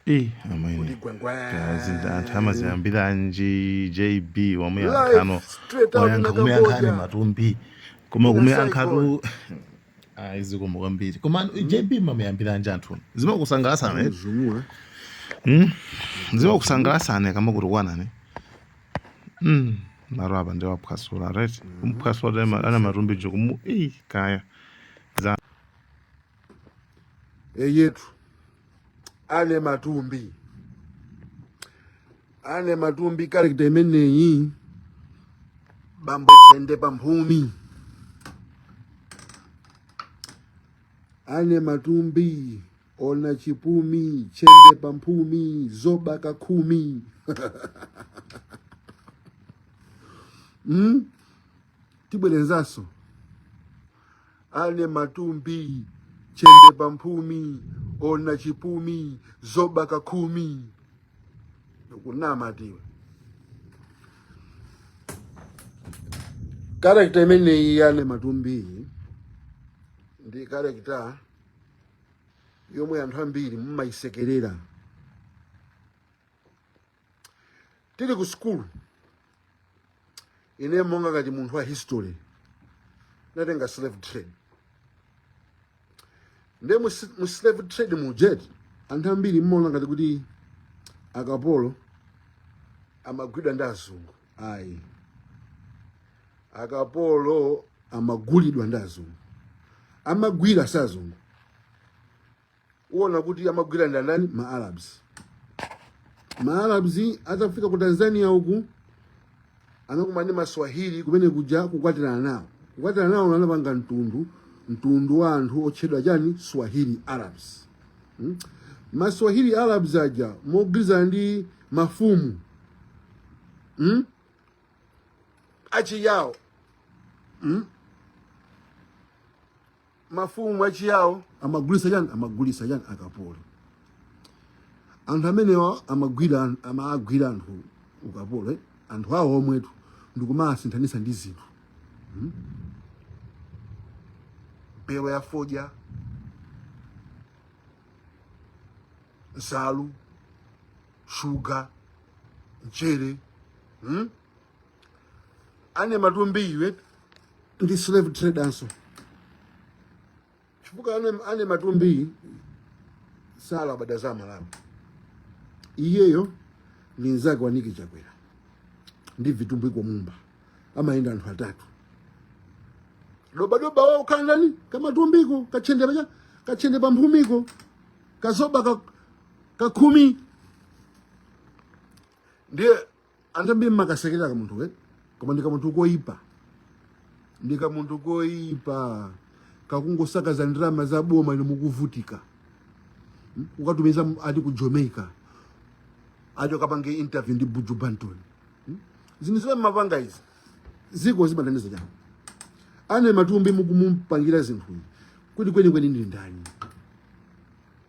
Eh, amene. kuti gwengwe Kodi anthu amaziyambiranji JB Life wamuyankha no straight out wayankha kumeyankhani ndakaboja matumbi koma Ina kumeyankhatu zikomo kwambiri koma JB mumamuyambiranji anthu zimakusangalasana eh? zumula Mm. zimakusangalasana kama kuti kwanani Mm. maro apa ndi waphwasula right kumphwasula ana matumbi jo kumu eh, kaya eyetu ane matumbi ane matumbi karekta imeneyi bambo chende pamphumi ane matumbi ona chipumi chende pamphumi zoba kakhumi mm? tibwerenzanso ane matumbi tchende pa mphumi ona chipumi zoba ka khumi ukunamatu iwe karakta imeneyi ya ane matumbiyi ndi karakta yomwe anthu ambiri mumayisekerera tili ku sukulu ine monga ngati munthu wa history ndinatenga slave trade nde mu s- mu slave trade muja eti anthu ambiri mmaona ngati kuti akapolo amagwidwa ndi azungu ayi akapolo amagulidwa ndi azungu amagwira sazungu uwona kuti amagwira ndi andani ma arabs ma arabs atafika ku tanzania uku anakumana ndi maswahili kumene kuja kukwatirana nawo kukwatirana nawo anapanga mtundu mtundu wa anthu otchedwa chani swahili arabs hmm? maswahili arabs aja mogwirizana ndi mafumu hmm? achiyawo hmm? mafumu achiyawo amagulisa chani amagulisa chani akapolo anthu amenewa amagwira amagwira anthu ukapolo eh? anthu awo omwetu ndikumasinthanisa ndi zinthu hmm? mabelo a fodya nsalu shuga mchere hmm? ane matumbi iwe ndi slave trader nso chifukwa ane, ane matumbi salabada za malawi iyeyo ndi nzake wamanaki chakwera ndi vitumbiko mumba amayenda anthu atatu dobadoba wao ukakhala ndani kamatumbiko katchende pacha katchende pamphumiko kazoba ka, kakhumi ndiye anthu ambiri mmakasekerera kamunthuka eti koma ndi kamunthu koyipa ndi kamunthu koyipa kakungosakaza ndalama za boma inu mukuvutika Hmm? ukatumiza m- ati ku jamaica ati ukapange interview ndi buju banton Hmm? zinthu zimene mmapanga izi ziko zimathandiza chani anne matumbi mukumupangira zinthu izi kuti kwenikweni ndi ndani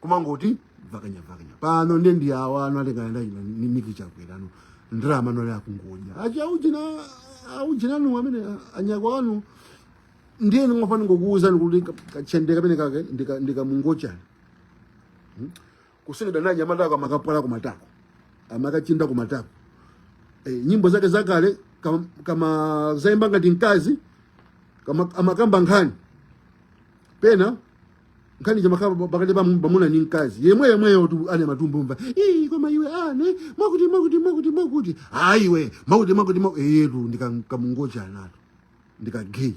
kumangoti vakanya vakanya pano nde ndi awa ano alekana nda ino ni- nick chakwera ano ndalama ano ali akungodya achi aujina aujina anu amene anyakwawa anu ndiye ndingofuna kungokuwuzani kuti kachendeka penapake ndika- ndikamungochani Hmm? kusungidwa na anyamata ako amakapwala kumatako amakachinda kumatako Eh, nyimbo zake zakale kama, kamaziimba ngati mkazi kama amakamba nkhani pena nkhani kamakamba pakati pa mwamuna ndi mkazi yemwe yemweyotu anne matumbi wamva ii koma iwe ane mwakuti mwakuti mwakuti mwakuti ayi iwe mwakuti mwakuti mwakuti eyetu ndikamungochanitu ndi ka gay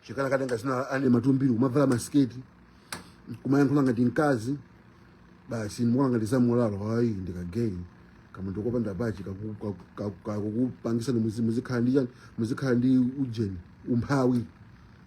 chikala katenga zina anne matumbili kumavala masiketi kumayankhula ngati mkazi basi ndikuona ngati zamulalo ayi ndi ka gay kamunthu kopanda pachi kaku- kaku- kaku- kakukupangisani muzi- muzikhala ndi chani muzikhala ndi ujeni umphawi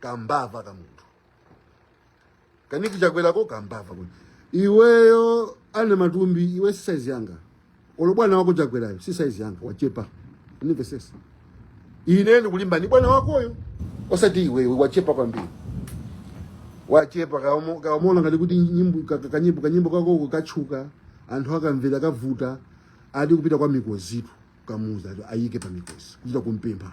kambava ka munthu ka nick chakwerako kambava kuti iweyo anne matumbi iwe si saizi yanga olo bwana wako chakwerayo si saizi yanga wachepa unimvesese ine ndikulimba ni bwana wakoyo osati iweyo wachepa kwambiri wachepa kaomo- kaomona ngati kuti nyimbo ka- ka- kanyimbo kanyimbo kakoko katchuka anthu akamvera kavuta ati kupita kwa mikozitu kamuuza ati ayike pa mikozi kuchita kumpempha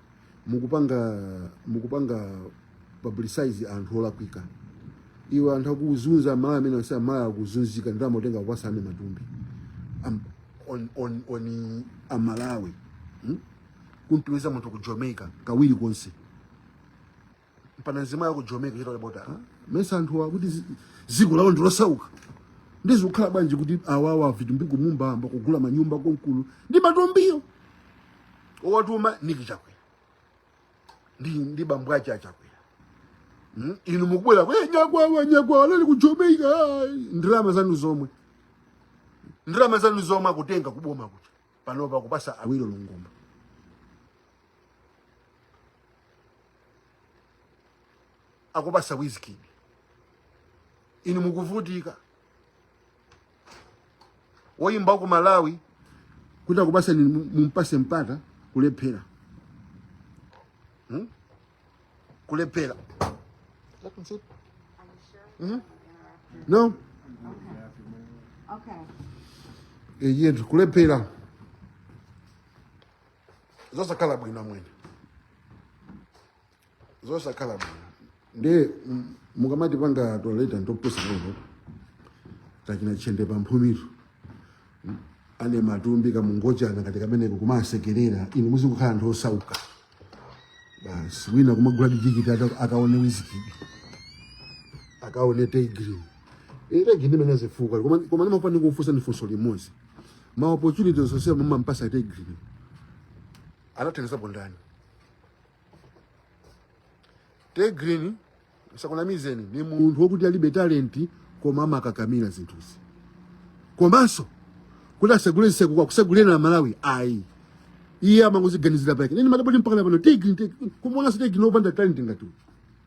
mukupanga mukupanga publicize anthu olakwika iwe anthu akuzunza amalawi amene onse amalawi akuzunzika ndalama kutenga kupasa anne matumbi Am, on, on, on amalawi hmm? kumtumiza munthu ku jamaica kawiri konse pana nzima ya ku Jamaica chita labota ha? mesa anthu akuti zi- ziko lawo ndilosauka nde zikukhala bwanji kuti awawa vitumbiko mumba ayamba kugula manyumba konkulu ndi matumbiyo awatuma nick chakwera ndi ndi bambo ake achakwera Hmm? inu mukubwera kwe nyakwawa nyakwawa anali ku Jamaica ah, ndalama zanu zomwe ndalama zanu zomwe akutenga kuboma kuti panopa kupasa awilo longomba akupasa wizkid inu mukuvutika woyimba wa ku malawi kuti akupaseni mu- mumpase mpata kulephera hmm? kulephera That means it. Are you sure? Mhm. Interrupt you. no Okay. Okay. eyetu kulephera zosakhala bwino amwene zosakhala bwino ndiye mm, mukamatipanga toilet and topusa lero tachina chende pa mphumiro Mm, ane matumbi kamungochana kati kameneko kumasekerera inu muzikukhala anthu osauka basi wina kumagula tikiti aka- akaone wizkid akaone tay grin tay grin imene zifukwa koma koma ndimafuna ndikufunseni funso limodzi ma opportunities onse mumampasa a tay grin anathandizapo ndani tay grin asakunamizeni ni munthu wokuti alibe talenti koma amakakamira zinthuzi komanso kuti asegule nseko kwa kusegulira amalawi ayi iye amangoziganizira pake ine ndimadabwa kuti mpaka napano tay grin tay grin kumuonanso tay grin opanda talenti ngati uyu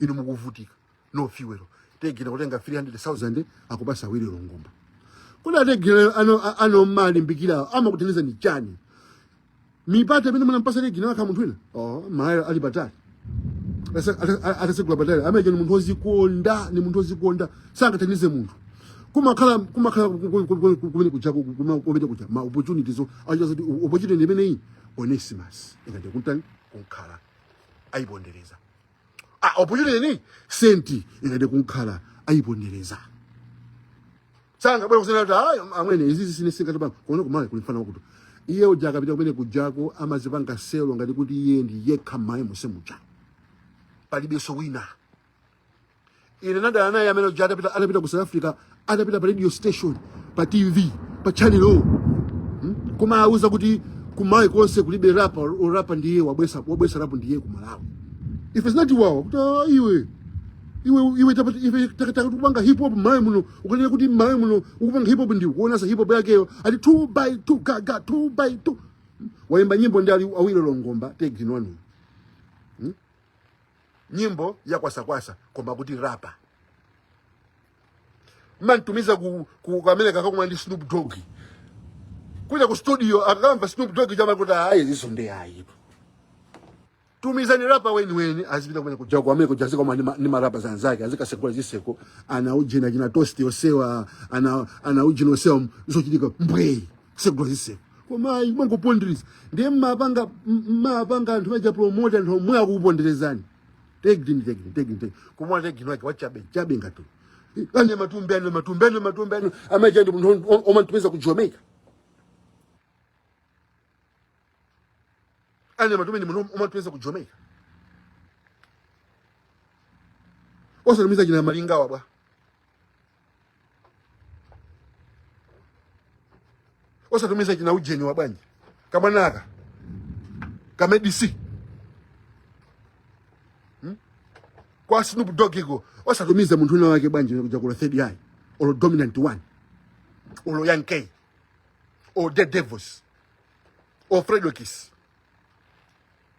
inu mukuvutika no fuel tay grin kutenga 300,000 akupasa awilo longomba kodi a tay grin ano a- ano malimbikira amakuthandizani chani mipata imene munampasa tay grin akakhala munthu wina oh malawi ali patali Asa- ata- ata- atasegula patali amene ni munthu ozikonda ni munthu ozikonda sangathandize munthu kumakhala kumakhala ku- ku- ku- ku- ku- kumene kuja ku- kuma- kumene kuja ma opportunities o- acho zoti opportunity imene iyi onesimus ingathe kuntani kunkhala ayipondereza a opportunity saint ingathe kunkhala ayipondereza sangabwere kunena kuti amwene izizi ine singathe ba kuona ku malawi kuli mfana wakuti iye uja akapita kumene kujako amazipanga sell ngati kuti iye ndi yekha mmalawi monse muja palibenso wina ine nadana naye amene uja atapita atapita ku south africa atapita pa radio station pa tv pa channel o hmm? kumawauza kuti ku malawi konse kulibe rapa orapa ndiye wabwesa wabwesa rapu ndiye ku malawi if it's not wawa kuti "Ah, iwe iwe iwe tapati- iwe takataka kupanga hip hop mmalawi muno ukanena kuti mmalawi muno ukupanga hip hop ndiye kuonanso hip hop yakeyo ati 2 by 2 gaga 2 by 2 waimba nyimbo ndi ali awilo longomba tay grin wanu nyimbo ya kwasakwasa koma kuti rapa mumamtumiza ku, ku, ku america akakumana ndi snoop dog kuja ku studio akamva snoop dog chama kuti ayi izinso ndi ayi tumizani rapa weniweni azipita kumene kuja ku america kuja azikakumana ndi ma- ndi marapa anzake azikasegula ziseko ana ujeni achina toast osewa ana ana ujeni osewa zochitika mbwei tsegula zitseko koma ayi mmangopondereza ndiye mmapanga m- mmapanga anthu aja promote anthu omwe akukuponderezani Tay Grin Tay Grin Tay Grin Tay Grin koma Tay Grin wake wachabe chabe ngati Anne Matumbi Anne Matumbi Anne Matumbi ane amaja ndi munthu om- omatumiza ku Jamaica Anne Matumbi ndi munthu omatumiza ku Jamaica osatumiza achina Malinga awa bwa osatumiza achina ujeni awa bwanji kamwanaka kamedisi hmm? kwa Snoop Dogg iko osatumiza munthu wina wake bwanji kujaku olo third eye olo dominant one olo Young Kay or Dare Devils or Fredokiss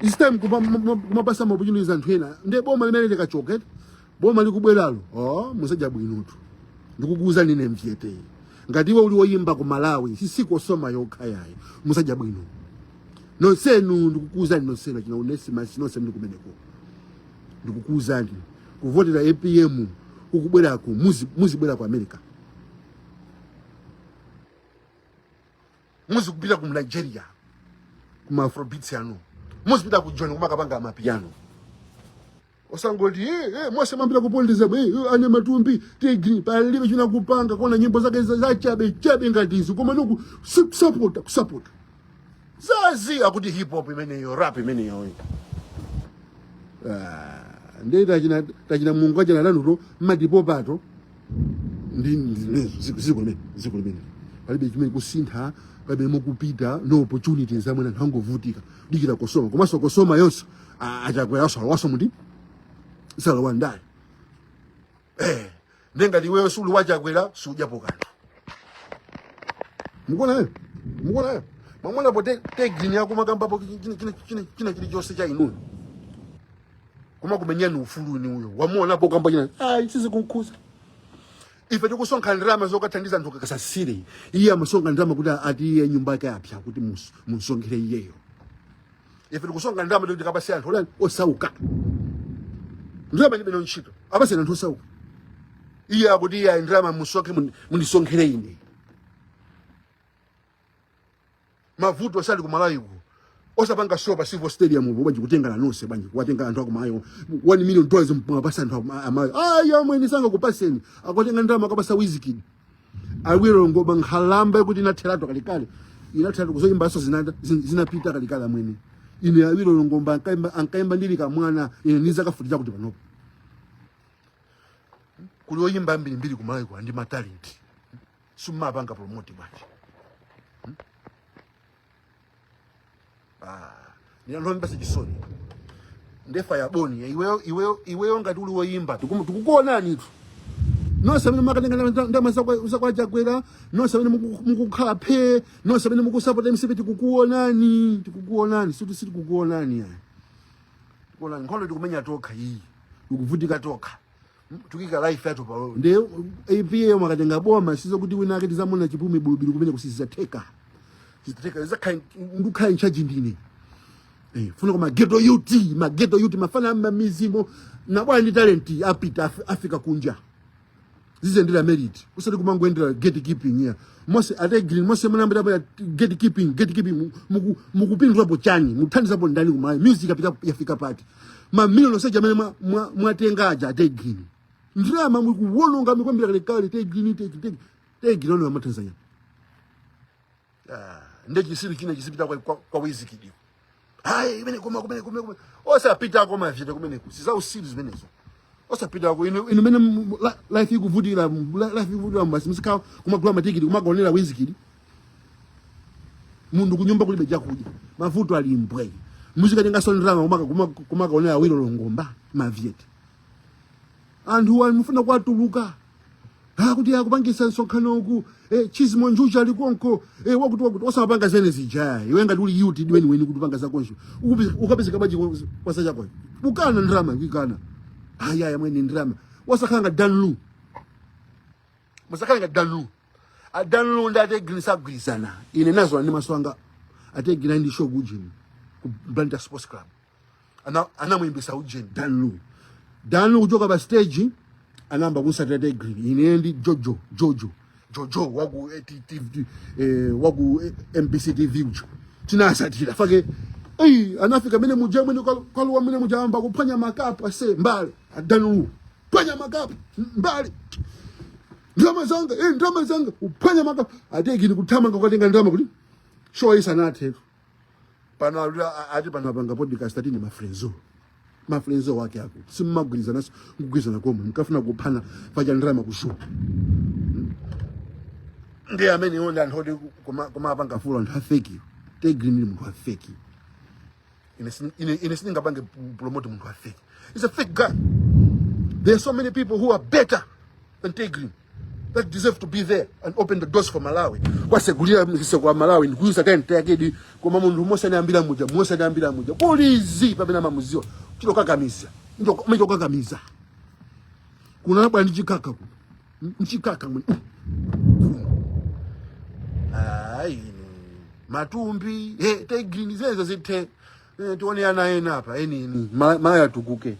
This time kupa- mu- mu- kumapasa maopportunities anthu ena nde boma limene likachoka eti boma likubweralo oh, muzadya bwinotu ndikukuuza nine mchete ngati iwe uli woyimba ku malawi sisikosoma yokha yayi muzadya bwino nonsenu ndikukuuzani nonsenu achina Onesimus nonse muli kumeneko ndikukuuzani kuvotera apm ukubwerako muzi- muzibwera ku america muzikupita ku nigeria kuma afrobeats anu muzipita ku joni kumakapanga amapiano osangoti eh, eh, mose mapita kupondeza eh, eh, Anne Matumbi Tay Grin palibe china akupanga koma nyimbo zake za- zachabe chabe ngati izi koma noku kusapota kusapota zazi akuti hip hop imeneyo rap imeneyoyo Ah, ndiye tachina tachina mungu achina lanuto mmatipopato palibe chimene chikusintha palibe mukupita no opportunities amwene anthu angovutika dikira kosoma komanso kosoma yonse achakwera asalawaso muti salawa ndani eh nde ngati iweyo suli wachakwera siudyapo kanthu mukuonayo mukuonayo mwamuonapo Tay Grin akumakambapo china chilichonse cha inuyo kumakumenyerani ufulu ni uyo wamuonapo kamba china ah ichi zikunkhuza ife tikusonkha ndalama zokathandiza anthu aku Kasasire iye amasonkha ndalama kuti ati iye nyumba yake yapsa kuti mus- munsonkhere iyeyo ife tikusonkha ndalama kuti tikapase anthu olani osauka ndalama ndilibe nazo ntchito apaseni anthu osauka iye akuti iye ayi ndalama musonkhe mundi- mundisonkhere ine mavuto sali ku Malawi ku osapanga show pa Civo Stadium po bwanji kutengana nonse bwanji kuwatenga anthu akumayo 1 million dollars mwapasa anthu amayo ayi amwene sangakupaseni akutenga ndama akapasa Wizkid Awilo Longomba nkhalamba kuti inatheratu kalekale inatheratu kuzoyimba so zinanda zin- zinapita kalekale amwene ine Awilo Longomba ankaimba ankaimba ndili kamwana ine niza kafutira kuti panopo kuli oyimba ambirimbiri kumalawiko a ndi ma talent simmapanga promote bwanji hmm? ah, ni anthu omvetsa chisoni ndefa ya boni eh, iweyo iweyo iweyo ngati uli woyimba tikukuonanitu nonse amene makatenga ndama zakwa Chakwera nonse amene mukukhala phe nonse amene mukusapota mcp tikukuonani tikukuonani siti sitikukuonani ayi tikuonani nkhondo tikumenya tokha iyi tikuvutika tokha tikuika life yathu palo ndi APM akatenga boma sizo kuti wina ake tizamuona chipumi bulubulu kumeneku sizatheka theka za kind ndukhala in charge ndine eh funa kwa ma ghetto youth ma ghetto youth mafana amba mizimo na bwana ndi talent apita Af Africa kunja zizendera merit usati kumangwendera gatekeeping ya mose a Tay Grin mose mnayambira pa gatekeeping gatekeeping mukupindulapo chani muthandizapo ndani ku Malawi music apita yafika pati mamiliyoni onse aja amene mwa- mwa- mwatenga aja a Tay Grin ndalama mukuwononga mikwambira kalekale Tay Grin Tay Grin Tay Grin Tay Grin ano amatanzania nde chisiru china chizipita kwa, kwa, kwa Wizkid ayi kumene koma kumene kumene kumene osapita kwa mavite kumeneku si za usiru zimenezo osapita ku inu inu mene mu- la- life ikuvutira mu- la- life ikuvutira basi muzika kumagula matikiti kumakaonera Wizkid munthu kunyumba kulibe chakudya mavuto ali mbwe muzikatengaso ndrama kumaka kumaka- kumakaonera Awilo Longomba mavyeti anthu wa mukufuna kwatuluka akuti akupangisa msonkhano uku eh, Chizmo Njuchi ali konko eh, wakuti wakuti osamapanga zene zija ayi iwe ngati uli youth weni weni kuti upanga zakonso Ukupi- ukapezeka bwanji kwa- kwasa chako ukana ndrama ikana ayaya mwene ndrama osakhala ngati Dan Lu musakhale ngati danlu adanlu ndi ategini sagwirizana ine nazola ndi maso anga ategini ali ndi show kujini ku blanta sports club Ana- anamuyimbisa ujeni danlu danlu kuchoka pa stage anayamba kunsatira ategini ine ndi jojo jojo jojo waku eh, T- T- T- eh, waku eh, mbc tv uja tinasatira fake eyi anafika mene muja mwene kwaluwa mene muja amba kuphwanya makapu ase mbale a Dan Lu phwanya makapu mbale ndalama zanga eh ndalama zanga uphwanya makapu a Tay Grin kuthamanga kukatenga ndalama kuti show isanathetu pano alula ati pano apanga podcast ati ni mafrenzo mafrenzo wake ako simmagwirizana kugwirizana komwe mkafuna kuphana paja ndalama kushupa ndi amene iwo ndi anthu oti koma koma apanga fulo anthu a fake Tay Grin ndi munthu wa fake ine sini- ine ine sindingapange promote munthu wa fake he's a fake guy there are so many people who are better than Tay Grin that deserve to be there and open the doors for Malawi kwasegulira zitseko aMalawi ndikuyusa kaye mtayakedi koma munthu mose anayambira muja mose anayambira muja polizi pamene amamuziwa chitokakamiza machokakamiza kunabwa ndi chikaka kuno mchikaka mwe ayi inu matumbi he Tay Grin zezo zithe Eh, tione ana ena apa eni eni Ma- Malawi atukuke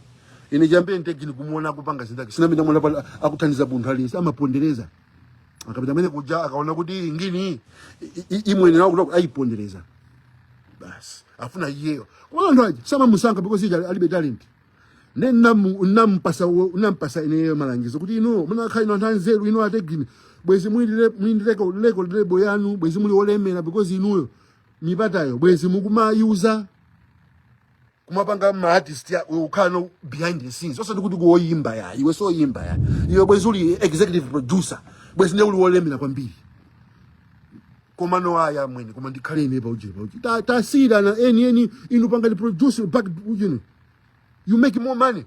ine chiyambire Tay Grin kumuona akupanga zinthu zake sina- sinamuonepo akuthandiza munthu aliyense amapondereza akapita mene kuja akaona kuti iyi ngini i- i- imwene nawo kuti ayipondereza basi afuna iyeyo koma anthu aja samamusankha because uja alibe talent ne nampasa nampasa ineyo malangizo kuti ino munakakhala ino anthu anzeru ino a Tay Grin bwezi muli ndi record label yanu bwezi muli olemera because inuyo mipatayo bwezi mukumayuza kumapanga ma artist uzikhala behind the scenes osati kuti kuoyimba ya iwe so yimba ya iwe bwezi uli executive producer bwezi ne uli olemera kwambiri koma no aya mwene koma ndikhale ine pa ujeni pa ujeni tasiyirani eni eni inu pangani produce back ujeni you make more money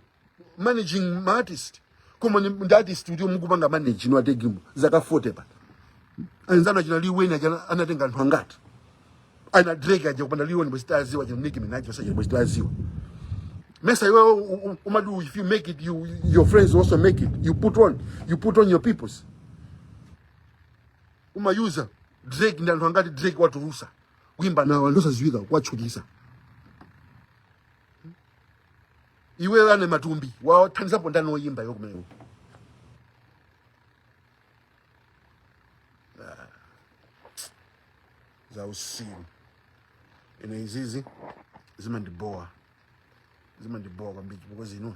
managing ma artist koma ni- ndi artist kuti mukupanga manage inu a Tay Grin zaka 40 pa anzanu achina Lil Wayne achana anatenga anthu angati ana drake aja kupanda Lil Wayne bwezi titadziwa achina nicki minaj bwezi achina bwezi titadziwa mesa iwe u- u- umadu if you make it you your friends also make it you put on you put on your peoples umayuza drake ndi anthu angati drake watulutsa kuimba nawo anthu osadziwika kuwatchukitsa iwe wa Nyau matumbi wathandizapo ndani oyimba iwe kumeneko Ah. za utsiru ine izizi zimandibowa zimandibowa kwambiri chifukwa zino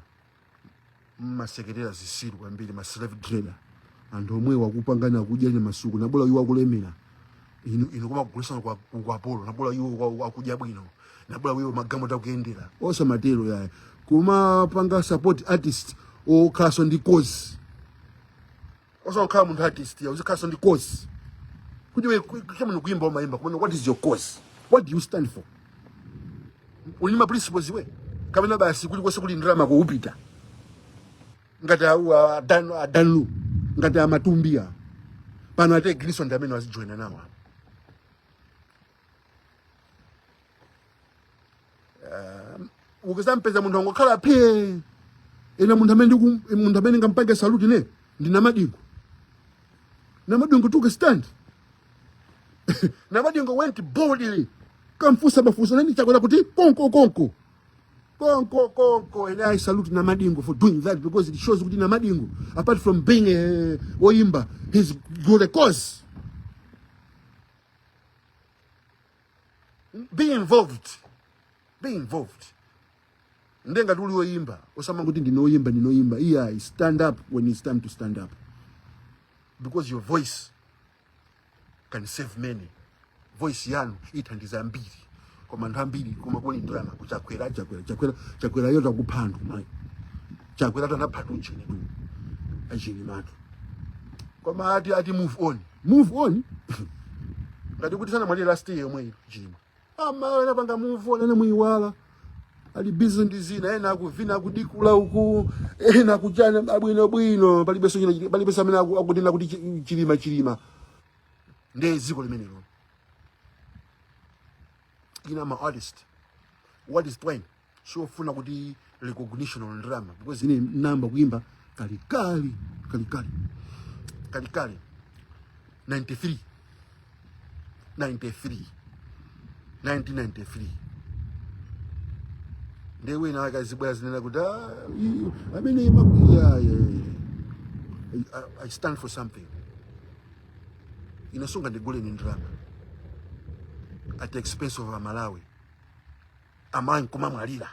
mmasekerera zitsiru kwambiri ma slave trader anthu omwewo akupangana akudya nyama tsiku nabola iwo akulemera ino ino kumakugulitsani kwa ukapolo nabola iwo kwa- kwa akudya bwino nabola iwo magamo tikuyendera osamatero yaya kumapanga support artist okhalanso ndi cause osangokhala munthu artist uzikhalanso ndi cause kuti iwe ku- ku- kaya mukuimba umaimba kumene what is your cause what do you stand for uli ndi ma principles iwe kapena basi kulikonse kuli ndalama ukupita ngati au adanu adanu ngati amatumbia pano a Tay Grin so ndi amene wazijoina nawo apa ukadzampeza munthu wangokhala phe ine munthu amene ndiku- munthu amene ndingampange saluti ne ndi namadingo namadingo took a stand namadingo went boldly kukamfunsa mafunso ndani chakwera kuti konko konko konko konko and i salute namadingo for doing that because it shows kuti namadingo apart from being oyimba he's got a cause be involved be involved nde ngati uli oyimba osamati ndine oyimba ndine oyimba iyayi stand up when it's time to stand up because your voice can save many voice yanu ithandiza ambiri koma anthu ambiri koma kuli ndalama kwa Chakwera chakwera chakwera chakwera yo atha kupha anthu mayi chakwera tanapha tuchini tu achini matu koma ati ati move on move on ngati kuti sanamwalire last year yomwe ino chilima ama ena panga move on ena ayiwala ali busy ndi zina ena akuvina akudikula uku ena akuchana abwino bwino palibenso china palibenso amene aku- akunena kuti chi- chilima chilima ndiye dziko limenelo ine ama artist what is point siofuna kuti recognition or ndalama because ine ndinayamba kuimba kalekale kalekale kalekale 93 93 1993 ndiye wina akazibwera azinena kuti "Ah, i- amene imakwiya I, I stand for something ine sungandigule ni ndalama at the expense of amalawi amayi nkumamwalira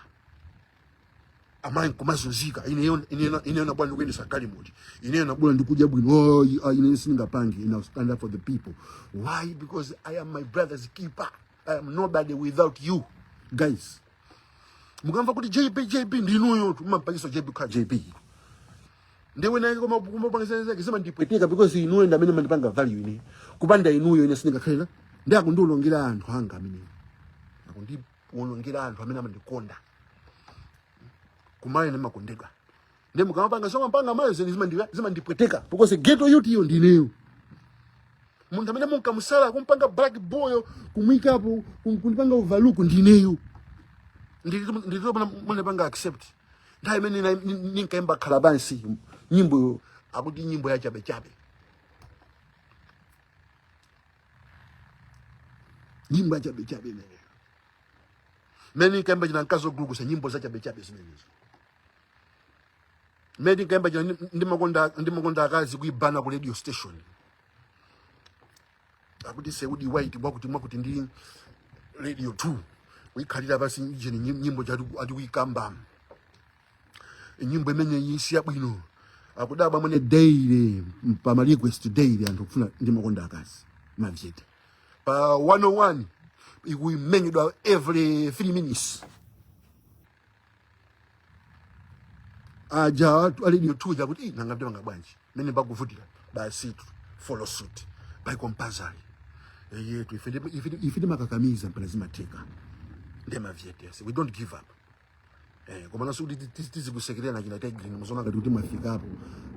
amayi nkumazunzika ineyo ineyo- ineyo nabwera ndikuyendesa galimoto ineyo nabwera ndikudya bwino oh, ah, ine sindingapange ine I'll stand up for the people why because i am my brother's keeper i am nobody without you guys mukamva kuti jb jb ndinuyotu mumapangisa jb kukhala jb ndiye wina wake kuma kumapangisa zake zimandipweteka because inuyo ndi amene mumandipanga value ine kupanda inuyo ine sindingakhale ndi akundiwonongera anthu anga amene akundiwonongera anthu amene amandikonda kumene ndimakondedwa ndi mukamapanga soma mpanga mayo zeni zimandika zimandipweteka because ghetto youth iyo ndineyo munthu amene munkamusala kumpanga black boy kumwikapo kum- kundipanga overlook ndineyo nditopana munapanga accept nthawi imene nina- nin- ninkaimba khala pansi nyimboyo akuti nyimbo ya chabechabe nyimbo ya chabechabe imeneyo imene ninkaimba chija mkazi ogulukusa nyimbo za chabechabe zimenezo imene ninkaimba chija ndi- ndimakonda ndimakonda akazi kuibana ku radio station akuti seudi white mwakuti mwakuti ndi radio 2 kuikhalira pansi icheni nyimbo ija ati kuyikamba nyimbo imeneyi si yabwino akudabwa mmene daily pa ma request daily anthu kufuna ndimakonda akazi mavjete pa 101 ikumenyedwa every 3 minutes aja a Radio 2 ja kuti "Ih, nanga ndimanga bwanji mene mbakuvutira basi tu follow suit by compulsory eyetu ife ndi- ife ndi- ife timakakamiza mpaka zimatheka ndemavyetese we don't give up Eh, komanso kuti ti- ti- tizikusekerera na achina Tigris muziona ngati kuti mwafikapo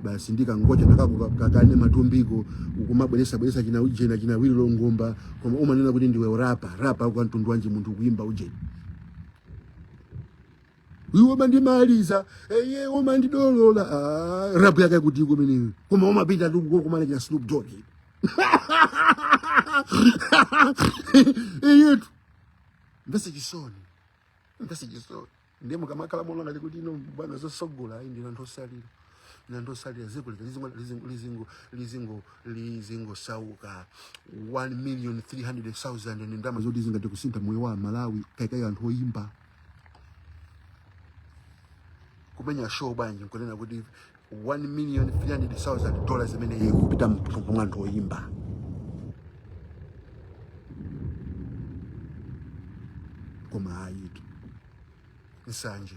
basi ndikangocha nakakukakane Matumbiko ukumabweresa bweresa achina ujeni achina Awilo Longomba koma umanena kuti ndiwe rapa rapa wa ntundu wanji munthu kuimba ujeni iwe umandimaliza iwe umandidolola Ah, rapu yake kuti kumeneko koma umapitatu kukumana achina Snoop Dogg iyetu mbese chisoni mbese chisoni ndiye mukamakhala mulonga likuti ino bwana zosogola ayi ndina nthosalira na ndosalira dziko lija lizingo lizingo lizingo lizingo lizingosauka 1 million 300,000 ni ndama zoti zingati kusintha moyo wa Malawi kaikayo anthu oyimba kumenya show bwanji nkunena kuti 1 million 300,000 dollars zimene ikupita mthumba mwa anthu oyimba koma ayitu nsanje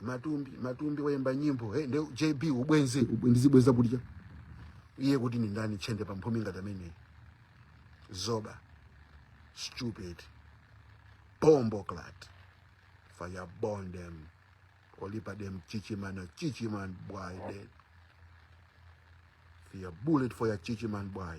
Matumbi Matumbi wayimba nyimbo hey, nde JB ubwenzi ubwe- ndizibweza kudya iye kuti ni ndani tchende pa mphumi ngati ameneyi zoba stupid bombo clat fire burn them whole heap a them chichimana chichiman boy dead fire bullet for your chichiman boy